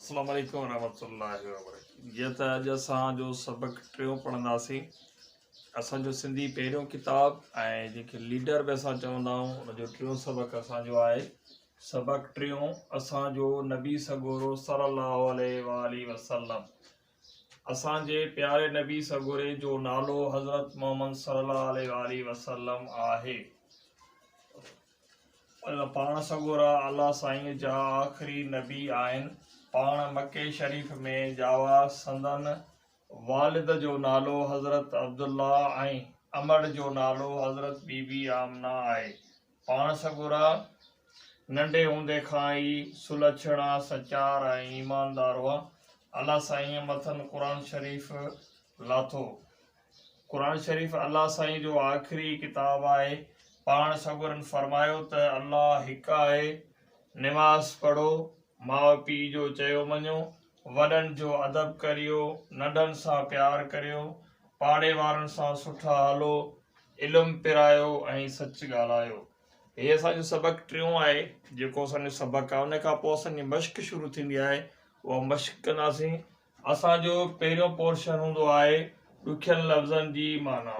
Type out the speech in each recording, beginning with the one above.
السلام عليڪم ورحمة الله وبرڪاته جيئن ته اڄ اسان جو سبق ٽيون پڙهنداسين اسان جو سنڌي پهريون ڪتاب ۽ جنهن کي ليڊر به اسان چوندا آهيون ان جو ٽيون سبق اسان جو آهي سبق ٽيون اسان جو نبي سڳورو صلي الله عليه وآله وسلم اسان جي پياري نبي سڳوري جو نالو حضرت محمد صلي الله عليه واٰله وسلم آهي پاڻ سڳورا الله سائين جا آخري نبي آهن پاڻ مڪي شريف ۾ ڄاوا سندن والد جو نالو حضرت عبدالله ۽ امڙ جو نالو حضرت بي بي آمنه آهي پاڻ سڳورا ننڍي هوندي کان ئي سلڇڻا، سچار ۽ ايماندار هئا. الله سائينء مٿن قرآن شريف لاٿو. قرآن شريف الله سائينء جو آخري ڪتاب آهي. پاڻ سڳورن فرمايو ته الله هڪ آهي، نماز پڙهو، ماء پيء جو چيو مڃو، وڏن جو ادب ڪريو، ننڍن سان پيار ڪريو، پاڙي وارن سان سٺا هلو، علم پرايو ۽ سچ ڳالهايو. هي اسان جو سبق ٽيون آهي جيڪو اسان جو سبق آهي ان کان پوء اسان جي مشق شروع ٿيندي آهي اها مشق ڪنداسين. اسان جو پهريون پورشن هوندو آهي ڏکين لفظن جي معنيٰ.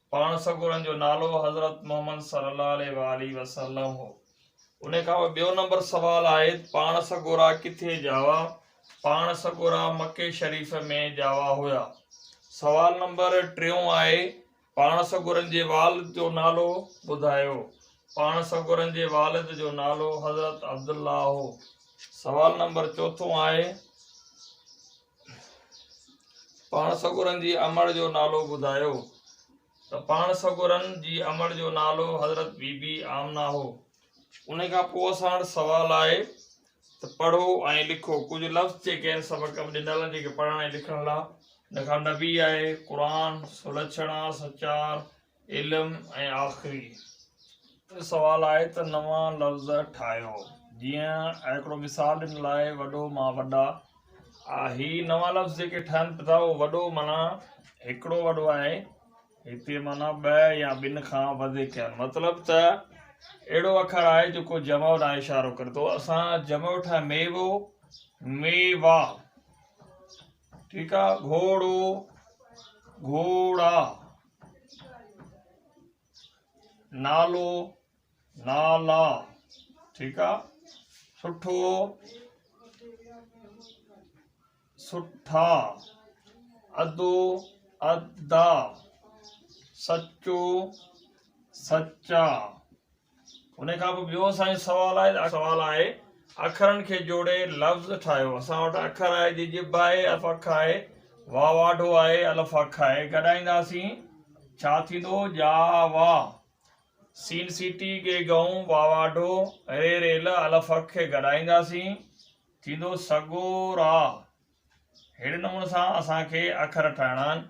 پاڻ سڳورن جو نالو حضرت محمد صلّي اللّٰه عليه واٰله وسلّم هو. ان کان پوء ٻيو نمبر سوال آهي ته پاڻ سڳورا ڪٿي ڄاوا؟ پاڻ سڳورا مڪي شريف ۾ ڄاوا هيا. سوال نمبر ٽيون آهي پاڻ سڳورن جي والد جو نالو ٻڌايو؟ پاڻ سڳورن جي والد جو نالو حضرت عبدالله هو. سوال نمبر چوٿون آهي پاڻ سڳورن جي امڙ جو نالو ٻڌايو ته پاڻ سڳورن جي امڙ جو نالو حضرت بي بي آمنه هو ان کان پوء اسان وٽ سوال آهي ته پڙهو ۽ لکو ڪجهه لفظ جيڪي آهن سبق ۾ ڏنل آهن جيڪي پڙهڻ ۽ لکڻ لاء ان کان نبي آهي قرآن سلڇڻا سچار علم ۽ آخري ته سوال آهي ته نوان لفظ ٺاهيو جيئن هڪڙو مثال ڏنل آهي وڏو مان وڏا آ هي نوان لفظ جيڪي ٺهن پتا اهو وڏو معنيٰ هڪڙو وڏو آهي هتي معنيٰ ٻه يا ٻن کان وڌيڪ آهن مطلب ته اهڙو اکر آهي جيڪو جمع ڏانهن اشارو ڪري ٿو اسان جمع ٺاهي ميوو ميوا ٺيڪ آهي گهوڙو گهوڙا نالو نالا ٺيڪ آ سٺو سٺا ادو ادا سچو سچا ان کان پوء ٻيو اسان جو سوال آهي ته سوال آهي اکرن کي جوڙي لفظ ٺاهيو اسان وٽ اکر آهي جي ڄڀ آهي الف اک آهي واء واڍو آهي الف اک آهي گڏائينداسين ڇا ٿيندو ڄا وا سين سيٽي ڳي ڳئون وا واڍو ري ريل الف اک کي گڏائينداسين ٿيندو سڳو را ههڙي نموني سان اسان کي اکر ٺاهڻا آهن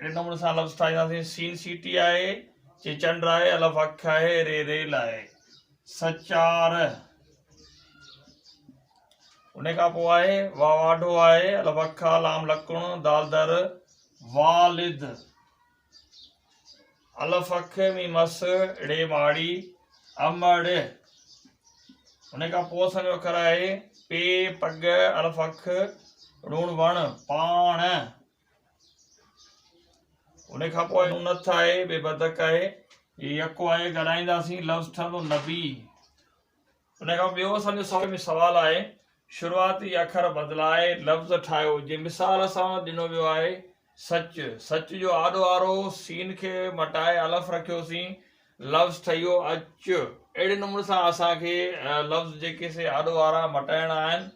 اهڙي نموني سان لفظ ٺاهينداسين، سين سيٽي آهي، چي چنڊ آهي، الف اک آهي، ري ريل آهي. سچار ان کان پوء آهي، وا واڍو آهي، الف اک آ، لام لڪڻ، دال در، والد. الف اک ميم اس ڙي ماڙي امڙ ان کان پوء اسان جو اکر آهي پي پگ الف اک ڙوڻ وڻ پاڻ ان کان پوء نون نٿ آهي بي بدڪ آهي يڪو آهي ڳالهائينداسين لفظ ٺهندو نبي ان کان پوء ٻيو اسان جو سوال ۾ سوال آهي، شروعاتي اکر بدلائي لفظ ٺاهيو، جي مثال سان ڏنو ويو آهي، سچ، سچ جو آڏو آرو سين کي مٽائي الف رکيوسين، لفظ ٺهيو، اچ. اهڙي نموني سان اسان کي لفظ جيڪي سي آڏو آرا مٽائڻا آهن.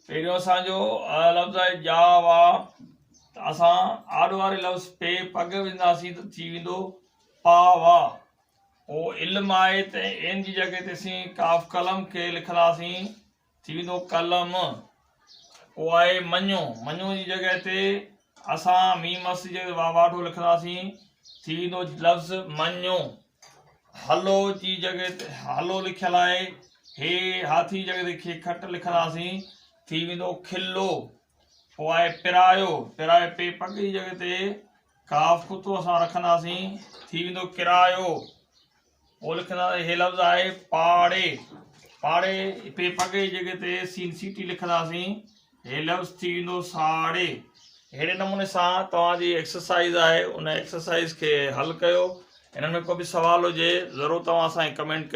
پهريون اسان جو لفظ آهي ڄا وا ته اسان آڏو آري لفظ پي پڳ وجهنداسين ته ٿي ويندو پا وا. اهو علم آهي ته عين جي جڳهه تي سين قاف قلم کي لکنداسين ٿي ويندو قلم اهو آهي مڃو مڃو جي جڳهه تي اسان ميم مس جي واواڍو لکنداسين ٿي ويندو لفظ مڃو هلو جي جڳهه تي هلو لکيل آهي هي هاٿي جي جڳهه تي کي کٽ لکنداسين ٿي ويندو کلو پوء آء پرايو، پرايو پي پڳ جي جڳھ تي قاف قطعو اسان رکنداسين، ٿي ويندو ڪرايو. پوء لکنداسين هي لفظ آهي پاڙي، پاڙي پي پڳ جي جڳھ تي سين سيٽي لکنداسين، هي لفظ ٿي ويندو ساڙي. اهڙي نموني سان توهان جي ايڪسرسائيز آهي ان ايڪسرسائيز کي حل ڪيو، انهن ۾ ڪو به سوال هجي ضرور توهان اسان کي ڪمينٽ ڪيو.